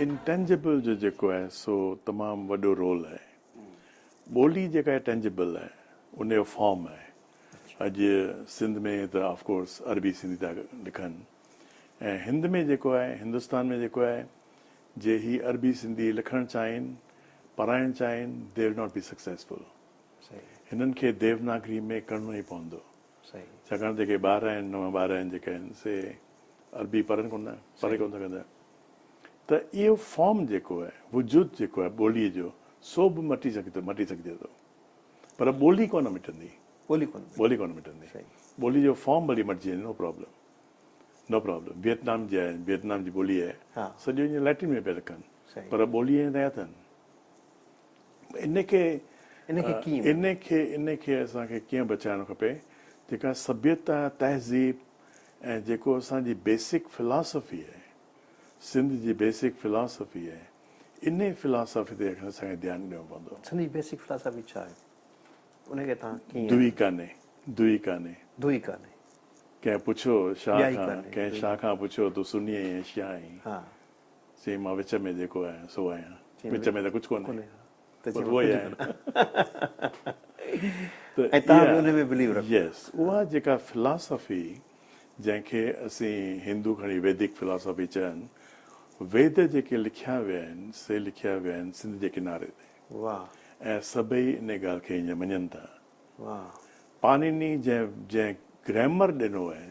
Intangible جو جيڪو آهي سو تمام وڏو رول آهي. ٻولي جيڪا آهي ٽينجبل آهي، ان جو فارم آهي. اڄ سنڌ ۾ ته آف ڪورس عربي سنڌي ٿا لکن ۽ هند ۾ جيڪو آهي هندستان ۾ جيڪو آهي جي هي عربي سنڌي لکڻ چاهين، پرائڻ چاهين They will not be successful. هنن کي ديوناگري ۾ ڪرڻو ئي پوندو. ڇاڪاڻ ته جيڪي ٻار آهن نوان ٻار آهن جيڪي آهن سي عربي پڙهن ڪونه ٿا پڙهي ڪونه سگهندا آهن ته اهو فارم جيڪو آهي وجود جيڪو آهي ٻوليء جو سو به مٽي سگهي مٽي سگهجي ٿو پر ٻولي ڪونه مٽندي ٻولي ڪونه ٻولي ڪونه مٽندي ٻولي جو فارم ڀلي مٽجي وڃي no problem no problem Vietnam جي آهي ويٽنام جي ٻولي آهي سڄو اڃا ليٽن ۾ پيا لکن پر ٻولي اڃا تيار اٿن ان کي ان کي ڪيئن ان کي ان کي اسان کي ڪيئن بچائڻ کپي جيڪا سڀيتا تهذيب ۽ جيڪو اسان جي بيسڪ فلاسفي آهي سنڌ جي بيسڪ فلاسفي آهي ان فلاسفي تي اسان کي ڌيان ڏيڻو پوندو سنڌ جي بيسڪ فلاسفي ڇا آهي ان کي تان ڪيئن دوئي ڪانهي دوئي ڪانهي دوئي ڪانهي ڪنهن پڇيو شاهه کان ڪنهن شاهه کان پڇيو تو سني آهين شاهه آهين چيائين، مان وچ ۾ جيڪو آهيان، سو آهيان. وچ ۾ ته ڪجهه ڪونهي. ته چيائين، مان ڪجهه ڪونه آهيان. ۽ توهان به انهي ۾ بليو رکو. يس. اها جيڪا فلاسافي، جنهن کي اسين هندو کڻي ويدڪ فلاسافي چئن، ويد جيڪي لکيا ويا آهن، سي لکيا ويا آهن سنڌ جي ڪناري تي. ۽ سڀئي انهي ڳالهه کي هيئن مڃن ٿا. پانيني جنهن گرامر ڏنو آهي،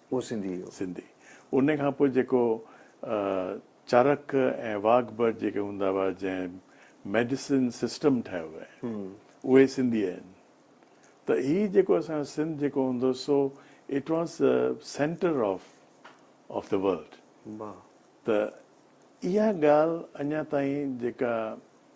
اهو سنڌي هو. سنڌي. ان کان پوء جيڪو چرڪ ۽ واگبر جيڪي هوندا هئا جنهن ميڊيسن سسٽم ٺاهيو هئي اهي سنڌي آهن ته هي جيڪو اسان جو سنڌ جيڪو هوندو سو it was centre of of the world ته اها ڳالهه اڃا تائين جيڪا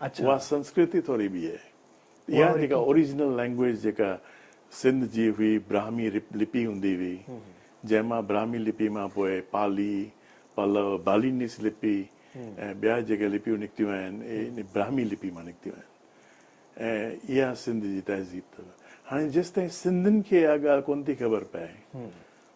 اها سنسڪرتي ٿوري ٻي آهي. اها جيڪا اوريجنل لينگويج جيڪا سنڌ جي هئي، براهمي لپي هوندي هئي، جنهن مان براهمي لپي مان پوء پالي، پلو، بالينيس لپي ۽ ٻيا جيڪي لپيون نڪتيون آهن، اهي براهمي لپي مان نڪتيون آهن ۽ اها سنڌ جي تهذيب اٿس. هاڻي جيستائين سنڌين کي اها ڳالهه ڪونه ٿي خبر پئي،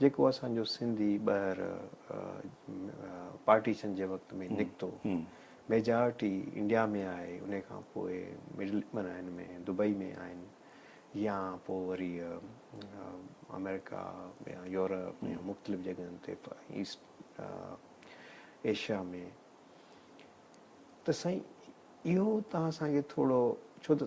جيڪو اسان جو سنڌي ٻهر پارٽيشن جي وقت ۾ نڪتو ميجارٽي انڊيا ۾ آهي انهي کان پوء مڊل معنيٰ هن ۾ دبئي ۾ آهن يا پوء وري آمريڪا يا يورپ يا مختلف جڳهن تي ايسٽ ايشيا ۾ ته سائين اهو تان اسان کي ٿورو ڇو ته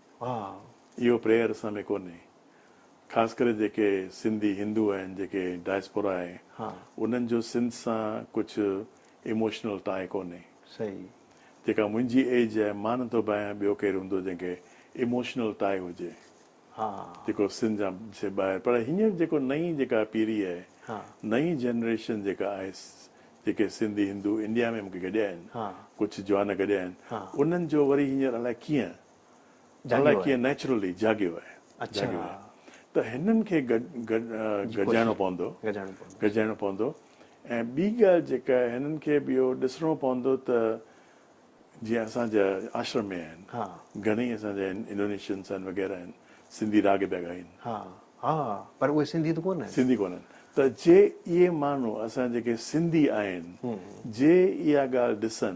ها اهو پريئر اسان ۾ ڪونهي خاص ڪري جيڪي سنڌي هندو آهن جيڪي ڊائسپورا آهي انهن جو سنڌ سان ڪجهه ايموشنل ٽاء ڪونهي جيڪا منهنجي ايج آهي مان نٿو ڀانيان ٻيو ڪير هوندو جنهن کي ايموشنل ٽاء هجي جيڪو سنڌ جا سي ٻاهر پر هينئر جيڪو نئين جيڪا پيري آهي نئين جنريشن جيڪا آهي جيڪي سنڌي هندو انڊيا ۾ مون کي گڏيا آهن ڪجهه جوان گڏيا آهن انهن جو وري هينئر الاء ڪيئن جاڳيو آهي. نيچرلي جاڳيو آهي. اڇا. ته هنن کي گڏجائڻو پوندو. گڏجائڻو پوندو. گڏجائڻو پوندو ۽ ٻي ڳالهه جيڪا آهي هنن کي به اهو ڏسڻو پوندو ته جيئن اسان جا آشرم ۾ آهن. ها. گهڻي اسان جا آهن انڊونيشنس آهن وغيره آهن سنڌي راڳ پيا ڳائين. ها. ها. پر اهي سنڌي ته ڪونه آهن. سنڌي ڪونه آهن. ته جي اهي ماڻهو اسان جيڪي سنڌي آهن جي اها ڳالهه ڏسن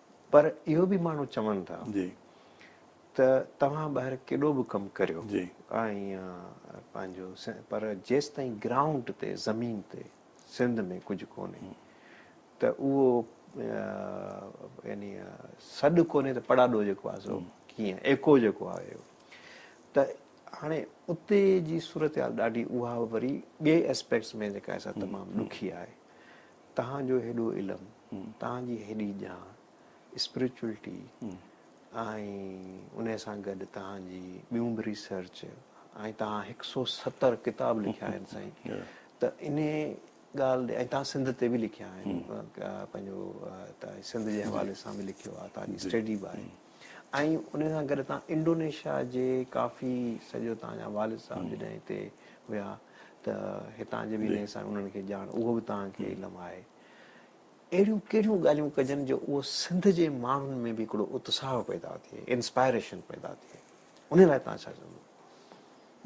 پر اهو به ماڻهو چون ٿا ته توهان ٻاهر ڪيڏو به ڪم ڪريو پنهنجو پر جيستائين گرائونڊ تي زمين تي سنڌ ۾ ڪجهه ڪونهي ته اهو يعني سڏ ڪونهي ته پڙاڏو جيڪو آهي سو ڪيئن ايڪو جيڪو آهي ته هاڻي اتي جي صورتحال ڏاڍي اها وري ٻئي اسپيڪٽس ۾ جيڪا تمام ڏکي آهي تهان جو هيڏو علم تان جي هيڏي ڄاڻ اسپريچوئلٽي ۽ ان سان گڏ تان جي ٻيون به ريسرچ ۽ تان هڪ سئو ستر ڪتاب لکيا آهن سائين ته ان ڳالهه ڏي ۽ تان سنڌ تي به لکيا آهن پنهنجو تان سنڌ جي حوالي سان به لکيو آهي تان جي اسٽيڊي به آهي ۽ ان سان گڏ تان انڊونيشيا جي ڪافي سڄو تان جا والد صاحب جڏهن هتي هيا ته هتان جي به انهن کي ڄاڻ اهو به تان کي علم آهي اهڙيون ڪهڙيون ڳالهيون ڪجن جو اهو سنڌ جي ماڻهن ۾ به هڪڙو اتساهه پيدا ٿئي، انسپائريشن پيدا ٿئي، انهي لاء توهان ڇا چوندو؟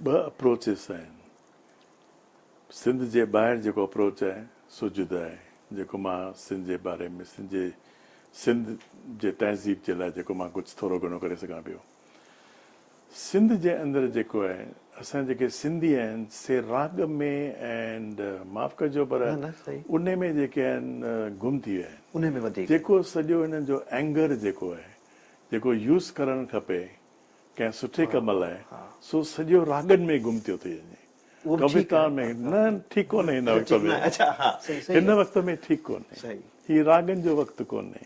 ٻه اپروچز آهن. سنڌ جي ٻاهر جيڪو اپروچ آهي سو جدا آهي، جيڪو مان سنڌ جي باري ۾ سنڌ جي سنڌ جي تهذيب جي لاء جيڪو مان ڪجهه ٿورو گهڻو ڪري سگهان پيو. سنڌ جي اندر جيڪو آهي اسان جيڪي سنڌي آهن سي راڳ ۾ ۽ معاف ڪجو پر انهي ۾ جيڪي آهن گم ٿي ويا آهن جيڪو سڄو هنن جو ائنگر جيڪو آهي جيڪو يوز ڪرڻ کپي ڪنهن سٺي ڪم لاء سو سڄو راڳن ۾ گم ٿيو ٿي وڃي ڪويتا ۾ نه ٺيڪ ڪونهي هن وقت ۾ هن وقت ۾ ٺيڪ ڪونهي هي راڳن جو وقت ڪونهي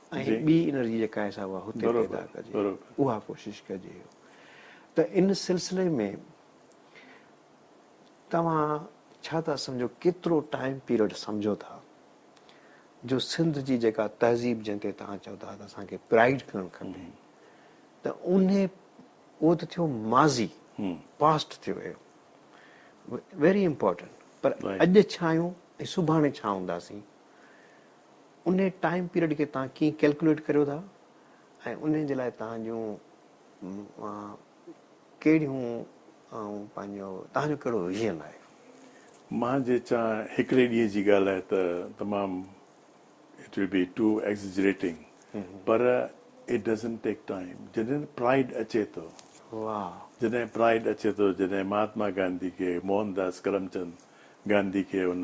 ۽ ٻي انرجي جيڪا آهي سا اها هتي پيدا ڪجي اها ڪوشش ڪجي ته ان سلسلي ۾ توهان ڇا ٿا سمجهو ڪيترو ٽائيم پيريڊ سمجهو ٿا جو سنڌ جي جيڪا تهذيب جنهن تي توهان چئو ٿا ته اسان کي پرائڊ ڪرڻ کپي ته ان اهو ته ٿيو ماضي پاسٽ ٿيو اهو ويري امپورٽنٽ پر اڄ ڇا آهيون ۽ سڀاڻي ڇا هونداسين ان ٽائيم پيريڊ کي توهان ڪيئن ڪيلڪوليٽ ڪريو ٿا ۽ ان جي لاء توهان جون ڪهڙيون پنهنجو توهان جو ڪهڙو ويزن آهي؟ مان جي چان هڪڙي ڏينهن جي ڳالهه آهي ته تمام it will be to exaggerating پر اٽ ڊزنٽ ٽيڪ ٽائيم جڏهن پرائڊ اچي ٿو جڏهن پرائڊ اچي ٿو جڏهن مهاتما گانڌي کي موهن داس ڪرم چند گانڌي کي ان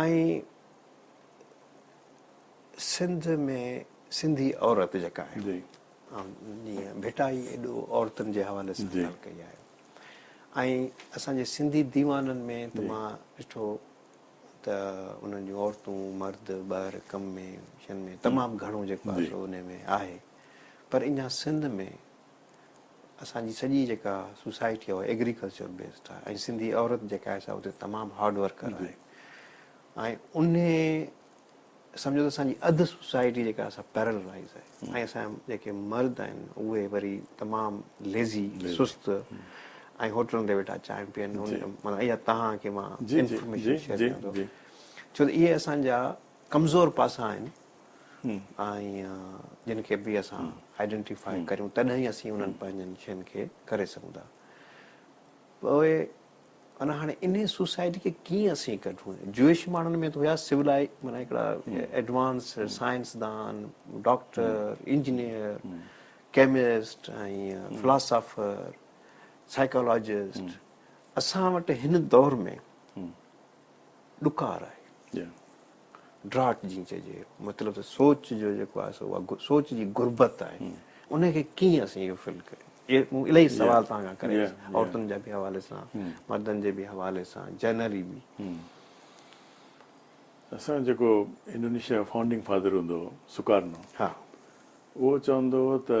۽ سنڌ ۾ سنڌي عورت جيڪا آهي جي جيئن ڀٽائي ايڏو عورتن جي حوالي سان ڳالهه ڪئي آهي ۽ اسان جي سنڌي ديوانن ۾ ته مان ڏٺو ته انهن جون عورتون مرد ٻاهر ڪم ۾ شين ۾ تمام گهڻو جيڪو آهي سو انهي ۾ آهي پر اڃا سنڌ ۾ اسان جي سڄي جيڪا سوسائٽي آهي اها ايگريڪلچر بيسڊ آهي ۽ سنڌي عورت جيڪا آهي سا اتي تمام هارڊ ورڪر آهي ۽ انهي سمجهو ته اسان جي اڌ سوسائٽي جيڪا آهي سا پيرلائز آهي ۽ اسان جا جيڪي مرد آهن اهي وري تمام ليزي سست ۽ هوٽلن تي ويٺا چانهه پين مطلب اها توهان کي مان انفارميشن شيئر ڪيان ٿو ڇو ته اهي اسان جا ڪمزور پاسا آهن ۽ جن کي به اسان آئيڊينٽيفاء ڪريون تڏهن ئي اسين انهن پنهنجن شين کي ڪري سگهون ٿا پوء معنيٰ هاڻي انهي سوسائٽي کي ڪيئن اسين ڪڍون جوئش ماڻهن ۾ ته هيا سولائي معنيٰ هڪڙا ايڊوانس سائنس دان doctor engineer chemist ۽ philosopher psychologist اسان وٽ هن دور ۾ ڏڪار آهي ڊراٽ جيئن چئجي مطلب ته سوچ جو جيڪو آهي سو اها سوچ جي غربت آهي ان کي ڪيئن اسين اهو فل ڪريون اهي مون الاهي سوال تان کان ڪري عورتن جا به حوالي سان مردن جي به حوالي سان جنرلي به اسان جيڪو انڊونيشيا جو فائونڊنگ فادر هوندو هو سڪارنو اهو چوندو هو ته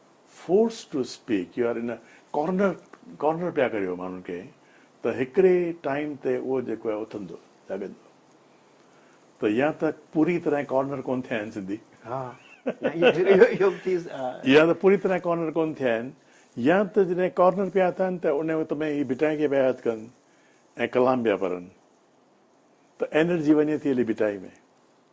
force to speak you are in corner corner پيا ڪريو ماڻهن کي ته هڪڙي ٽائيم تي اهو جيڪو آهي اٿندو جاڳندو ته يا ته پوري طرح ڪارنر ڪون ٿيا آهن سنڌي يا ته پوري طرح ڪارنر ڪون ٿيا آهن يا ته جڏهن ڪارنر پيا اٿن ته ان وقت ۾ هي ڀٽائي کي پيا ياد ڪن ۽ ڪلام پيا پڙهن ته انرجي وڃي ٿي هلي ڀٽائي ۾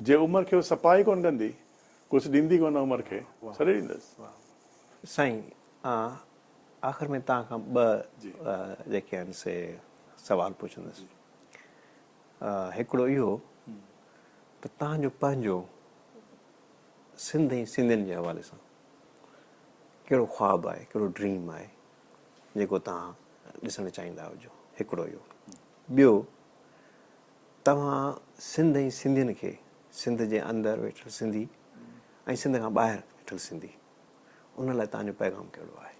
جي عمر کي هو سپاهي ڪونه ڪندي ڪجھ ڏيندي ڪونه عمر کي سڏي ڏيندس. سائين آخر ۾ تان کان ٻه جيڪي آهن سي سوال پڇندس هڪڙو اهو ته تان جو پنهنجو سنڌ ۽ سنڌين جي حوالي سان ڪهڙو خواب آهي ڪهڙو ڊريم آهي جيڪو تان ڏسڻ چاهيندا هجو هڪڙو اهو ٻيو توهان سنڌ ۽ سنڌين کي سنڌ جي اندر ويٺل سنڌي ۽ سنڌ کان ٻاهر ويٺل سنڌي ان لاء توهان جو پيغام ڪهڙو آهي؟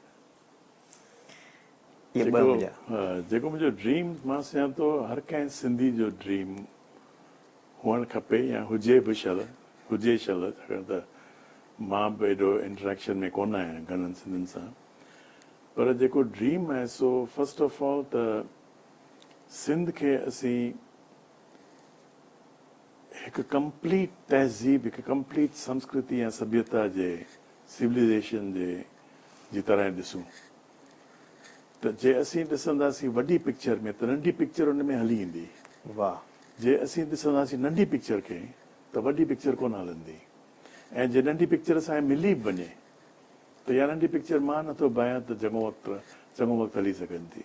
اهي ٻه منهنجا. جيڪو منهنجو ڊريم مان سمجهان ٿو هر ڪنهن سنڌي جو ڊريم هئڻ کپي يا هجي به شل هجي شل ڇاڪاڻ ته مان به ايڏو انٽريڪشن ۾ ڪونه آهيان گهڻن سنڌين سان پر جيڪو ڊريم آهي سو فرسٽ آف آل ته سنڌ کي اسين هڪ ڪمپليٽ تهذيب، هڪ ڪمپليٽ سنسڪرتي ۽ سڀيتا جي سوليزيشن جي جي طرح ئي ڏسون ته جي اسين ڏسنداسين وڏي پڪچر ۾ ته ننڍي پڪچر ان ۾ هلي ايندي. واهه. جي اسين ڏسنداسين ننڍي پڪچر کي ته وڏي پڪچر ڪونه هلندي ۽ جي ننڍي پڪچر اسان کي ملي به وڃي ته يا ننڍي پڪچر مان نٿو بيان ته چڱو وقت چڱو وقت هلي سگهندي.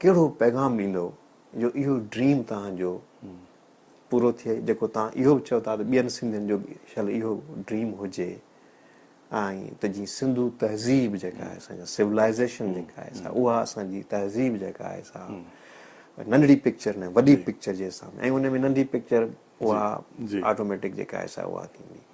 ڪهڙو پيغام ڏيندو جو اهو ڊريم توهان جو پورو ٿئي جيڪو توهان اهو به چئو ٿا ته ٻين سنڌين جو به شل اهو ڊريم هجي ۽ ته جيئن سنڌو تهذيب جيڪا آهي اسان جا سولائزيشن جيڪا آهي سا اها اسان جي تهذيب جيڪا آهي سا ننڍڙي پڪچر نه وڏي پڪچر جي سامهون ۽ ان ۾ ننڍي پڪچر اها آٽوميٽڪ جيڪا آهي سا اها ٿيندي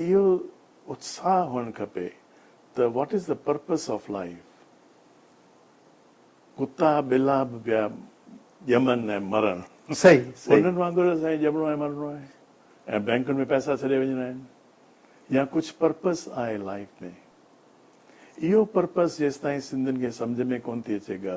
اهو اتساهه هئڻ کپي ته what is the purpose of life. ڪتا ٻلا به پيا ڄمن ۽ مرن. انهن وانگر اسان کي ڄمڻو ۽ مرڻو آهي ۽ بئنڪن ۾ پئسا ڇڏي وڃڻا آهن يا ڪجهه پرپس آهي لائيف ۾. اهو پرپس جيستائين سنڌين کي سمجهه ۾ ڪونه ٿي اچي ڳه.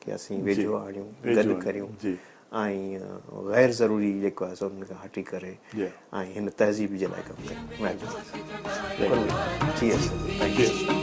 کي اسين ويجهو آڻيون گڏ ڪريون ۽ غير ضروري جيڪو آهي سو انهن کان هٽي ڪري ۽ هن تهذيب جي لاء ڪم ڪريون مهرباني ٿيندي